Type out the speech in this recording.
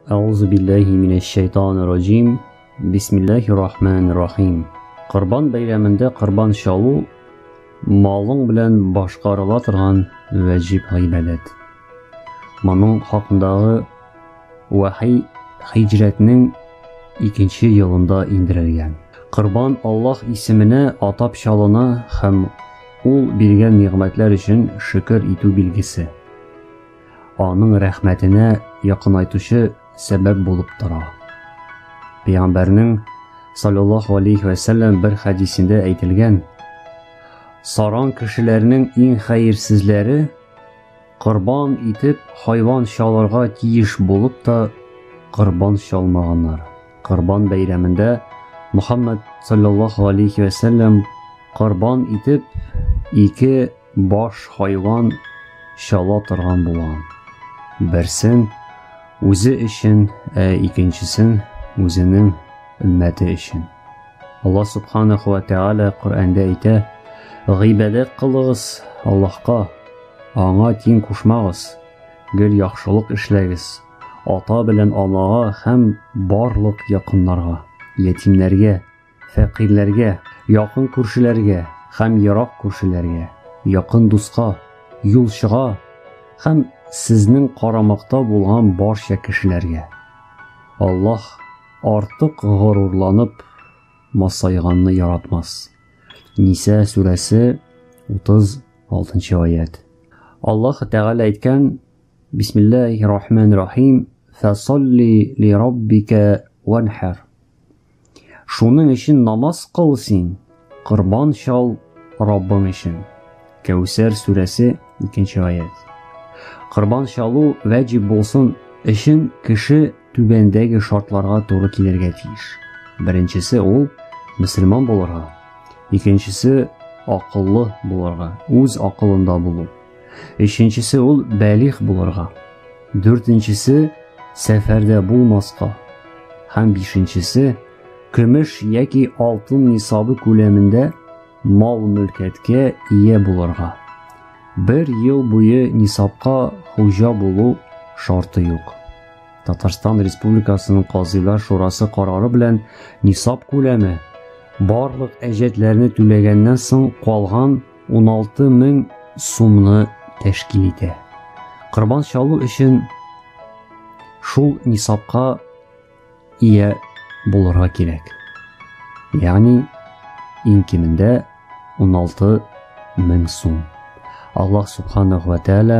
Әузу билләһи минәш шайтанир раҗим. Бисмиллаһир рахманир рахим. Корбан бәйрәмендә корбан чалу малың белән башкарыла торган вәҗиб гыйбадәт. Моның хакындагы вахи хиҗрәтнең икенче елында индерелгән. Корбан Аллаһ исеменә атап чалына һәм ул биргән нигъмәтләр өчен шөкер итү билгесе. Аның рәхмәтенә якынайтучы сәбәп булып тора. Пәйгамбәрнең саллаллаһу алейхи ва сәлләм бер хәдисендә әйтелгән, саран кешеләрнең иң хәерсезләре корбан итеп хайван чалырга тиеш булып та корбан чалмаганнар. Корбан бәйрәмендә Мухаммад саллаллаһу алейхи ва сәлләм корбан итеп ике Баш хайван чала торган була. Берсен үзе өчен, ә икенчесен үзенең өммәте өчен. Аллаһ субханаху ва тааля Коръәндә әйтә: "Гыйбадәт кылыгыз Аллаһка, аңа тиң кушмагыз, гел яхшылык эшләгез, ата белән анага һәм барлык якыннарга, ятимнәргә, Фәкыйрьләргә, якын күршеләргә һәм ерак күршеләргә, якын дуска, юлчыга һәм сезнең карамакта булган барча кешеләргә. Аллаһ артык горурланып масайганны яратмас. Ниса сүрәсе 36 аят. Аллаһ Тәгалә әйткән: Бисмиллаһир-рахманир-рахим, фасалли ли раббика ванхар. Шуның өчен намаз кыл син, корбан чал Раббың өчен. Кәүсәр сүрәсе, 2 нче аять. Корбан чалу вәҗиб булсын өчен кеше түбәндәге шартларга туры килергә тиеш. Беренчесе ул мөселман булырга, икенчесе акыллы булырга, үз акылында булу. Өченчесе ул бәлих булырга. Дүртенчесе сәфәрдә булмаска. Һәм бишенчесе көмеш яки алтын нисабы күләмендә мал-мөлкәткә ия булырга. Бер ел буе нисабка хуҗа булу шарты юк. Татарстан Республикасының Казыйлар шурасы карары белән нисаб күләме барлык әҗәтләрне түләгәннән соң калган 16 мең сумны тәшкил итә. Корбан чалу өчен шул нисапка ия булырга кирәк. Ягъни иң кимендә 16 мең сум. Аллаһ субханаху ва тааля